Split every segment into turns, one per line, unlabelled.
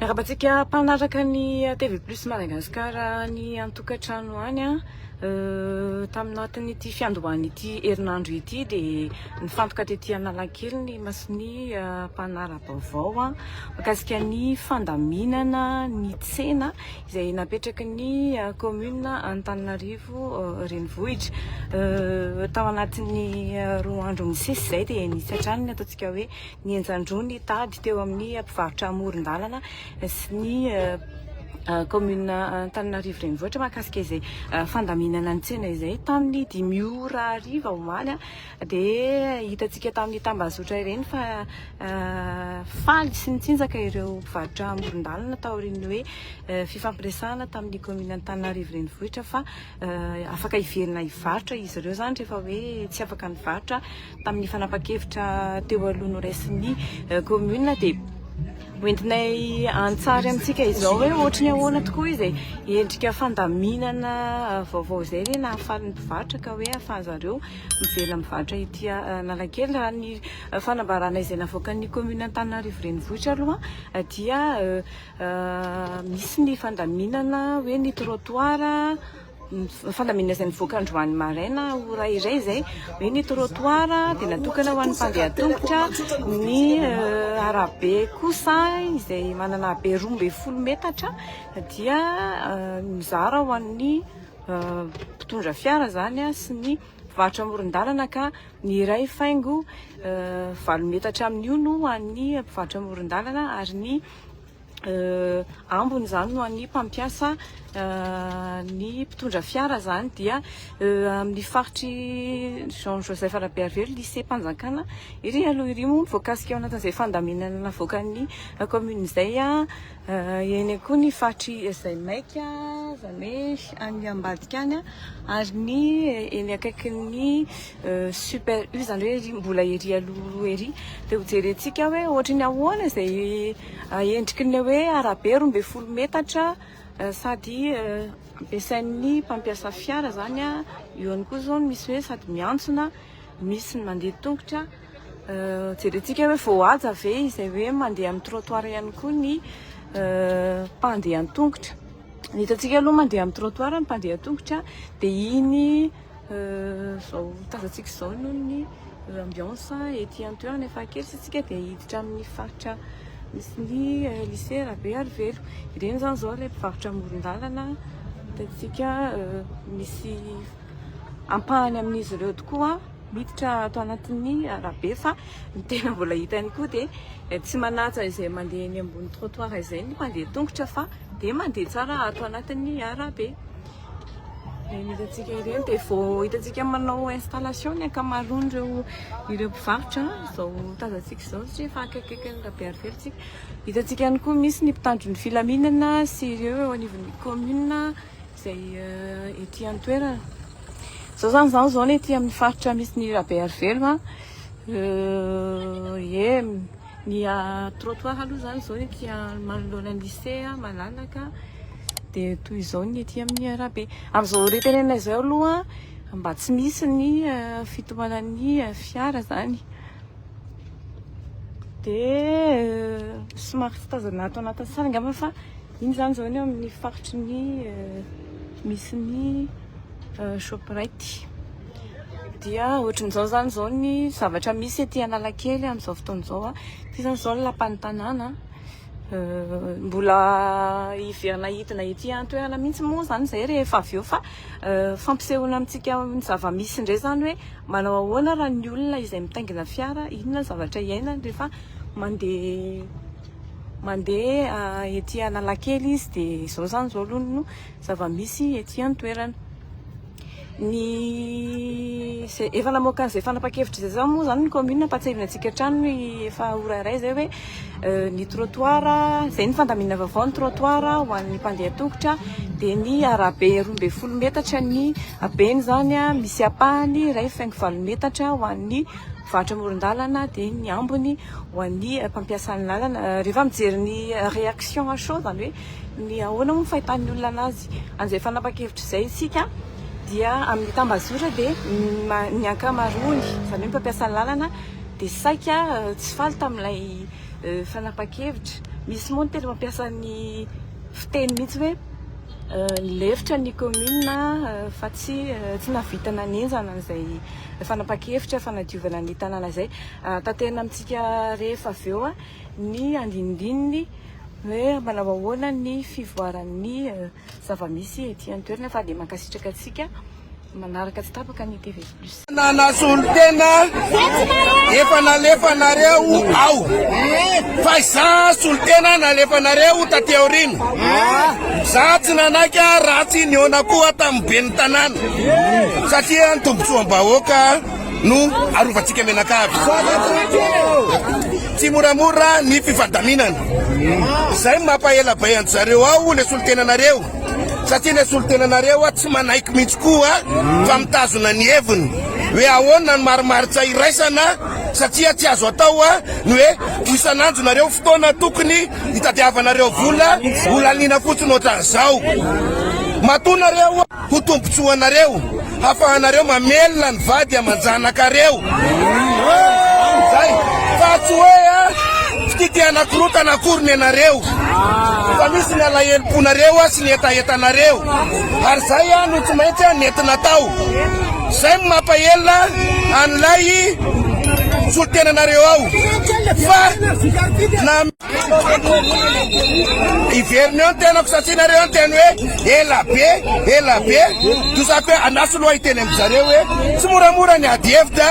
Miarabantsika mpanaraka ny TV Plus Madagascar ny antokantrano any an. Euh, taminatin'ity fiandohan'ity herinandro ity dia nifantoka tety Analakely ny masony euh, mpanara-baovao makasika ny fandaminana ny tsena izay napetraky ny kaominina Antananarivo Renivohitra. Tao anatin'ny roa andro nisesy izay dia nisy hatrany ny ataontsika hoe ny enjan-droa ny tady teo amin'ny mpivarotra amoron-dalana sy ny kaominina Antananarivo Renivohitra mahakasika izay fandaminana ny tsena izay tamin'ny dimy ora hariva omaly. Dia hitantsika tamin'ny tambazotra ireny fa faly sy nitsinjaka ireo mpivarotra amoron-dalana taorian'ny hoe fifampiresahana tamin'ny kaominina Antananarivo Renivohitra fa afaka hiverina hivarotra izy ireo izany rehefa hoe tsy afaka nivarotra tamin'ny fanapan-kevitra teo aloha noraisin'ny kaominina dia hoentinay an-tsary amintsika izao hoe ohatry ny ahoana tokoa izay endrika fandaminana vaovao izay ilay nahafaly ny mpivarotra ka hoe ahafahan'izareo mivela mivarotra ety Analakely. Raha ny fanambarana izay navoakan'ny kaominina Antananarivo Renivohitra aloha dia misy ny fandaminana hoe ny trottoir, fandaminana izay nivoaka androany maraina ora iray izay hoe ny trottoir dia natokana ho an'ny mpandeha an-tongotra, ny arabe kosa izay manana habe roa ambin'ny folo metatra dia mizara ho an'ny. mpitondra fiara izany sy ny mpivarotra amoron-dalana ka ny iray faingo valo metatra amin'io no an'ny mpivarotra amoron-dalana ary ny ambony izany no an'ny mpampiasa ny mpitondra fiara izany dia amin'ny faritry Jean Joseph Rabearivelo lisempanjakana iry aloha iry moa voakasika ao anatin'izay fandaminana navoakan'ny kaominina izay Eny koa ny faritry izay maika, izany hoe any ambadika any, ary ny eny akaikin'ny super U, izany hoe ery mbola ery aloha ery. Dia hojerentsika hoe ohatry ny ahoana izay endriky ny hoe arabe roa ambin'ny folo metatra sady ampiasain'ny mpampiasa fiara izany. Eo ihany koa izao ny misy hoe sady miantsona Misy ny mandeha tongotra, jerentsika hoe voahaja ve izay hoe mandeha amin'ny trottoir ihany koa ny mpandeha an-tongotra. Ny hitantsika aloha mandeha amin'ny trottoir ny mpandeha an-tongotra dia iny izao tazantsika izao noho ny ambiance ety an-toerana efa kely sisika dia hiditra amin'ny faritra misy ny lycée Rabearivelo. Ireny izany izao ilay mpivarotra amoron-dalana hitantsika misy ampahany amin'izy ireo tokoa miditra ato anatin'ny arabe fa ny tena mbola hita ihany koa dia tsy manaja izay mandeha eny ambony trottoir izay ny mpandeha tongotra fa dia mandeha tsara ato anatin'ny arabe. Ireny hitantsika ireny dia vao hitantsika manao installation ny ankamaroan'ireo ireo mpivarotra izao tazantsika izao satria efa akaikikaiky ny rabe arivelo tsika. Hitantsika ihany koa misy ny mpitandro ny filaminana sy ireo eo anivon'ny commune izay ety an-toerana. Izao izany izaho izao anie ety amin'ny faritra misy ny Rabearivelo a, ie ny trottoir aloha izany izao ety manoloana ny lycée malalaka, dia toy izao ny ety amin'ny arabe. Amin'izao ora itenenana izao aloha mba tsy misy ny fitohanan'ny fiara izany, dia somary tsy tazana ato anatin'ny salle angamba fa. Iny izany izao ny eo amin'ny faritry ny misy ny Shoprite. Dia ohatran'izao izany izao ny zavatra misy ety Analakely amin'izao fotoana izao. Ity izany izao ny lapan'ny tanàna. Mbola hiverina hidina ety an-toerana mihitsy moa izany izay rehefa avy eo fa fampisehoana amintsika ny zava-misy indray izany hoe manao ahoana raha ny olona izay mitaingina fiara, inona ny zavatra iainany rehefa mandeha. Mandeha ety Analakely izy dia izao izany izao aloha no zava-misy ety an-toerana. Ny izay efa namoaka an'izay fanapan-kevitra izay izao moa izany ny kaominina, ampahatsiahivina antsika hatrany ny efa ora iray izay hoe ny trottoir, izay ny fandaminana vaovao, ny trottoir ho an'ny mpandeha an-tongotra dia ny arabe roa ambin'ny folo metatra ny habeny izany, misy ampahany iray faingo valo metatra ho an'ny mpivarotra amoron-dalana dia ny ambiny ho an'ny mpampiasa ny lalana rehefa mijery ny réaction à chaud izany hoe ny ahoana moa ny fahitan'ny olona anazy an'izay fanapan-kevitra izay isika dia amin'ny tambazora dia ny ankamaroany izany hoe mpampiasa ny lalana dia saika tsy faly tamin'ilay fanapan-kevitra misy moa ny tena mampiasa ny fiteny mihitsy hoe lefitra ny kaominina fa tsy tsy nahavita nanenjana an'izay fanapahan-kevitra fanadiovana ny tanàna izay. Tanterina amintsika rehefa avy eo ny andinindininy hoe manao ahoana ny fivoaran'ny zava-misy ety an-toerana fa dia mankasitraka antsika. Manaraka tsy tapaka ny TV plus. Nanasolo tena
efa nalefanareo ao fa za solo tena nalefanareo taty aorina za tsy nanaiky ratsy niona koa tamin'ny ben'ny tanàna satria ny tombontsoam-bahoaka no arovantsika menakavy tsy moramora ny fifandaminana izay mampahela bay anjareo ao le solo tenanareo Satria ilay solontenanareo tsy manaiky mihitsy koa fa mitazona ny heviny. Hoe ahoana ny marimaritra iraisana satria tsy azo atao ny hoe ho isan'andro nareo fotoana tokony hitadiavanareo vola ho laniana fotsiny ohatran'izao. Matoa nareo ho tombontsoanareo. hafahanareo mamelona ny vady aman-janakareo amin'izay fa tsy hoe a fitia te hanakorotana akory ny anareo fa misy ny alahelom-ponareo a sy ny hetahetanareo ary izay a no tsy maintsy a nentina tao izay no mampahelona an'ilay solontenanareo ao fa na Hiverina eo ny tenako satria nareo niteny hoe ela be, ela be. Toa zato hoe andraso loha hiteny amin-dry zareo hoe tsy moramora ny ady hevitra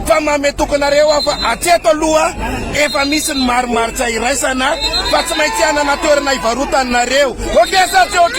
fa manome toky anareo aho fa hatreto aloha efa misy ny marimaritra iraisana fa tsy maintsy hanana toerana hivarotany nareo. Ok sa tsy ok?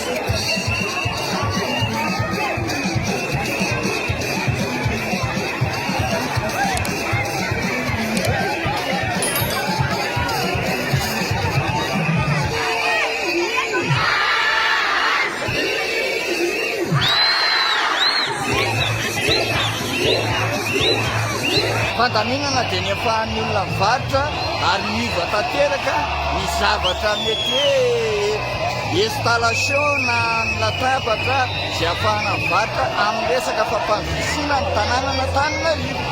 Fandaminana dia ny ampahan'ny olona mivarotra ary miova tanteraka ny zavatra mety hoe Installation na ny latabatra izay afahana mivarotra amin'ny resaka fampandrosoana ny tanànan'Antananarivo.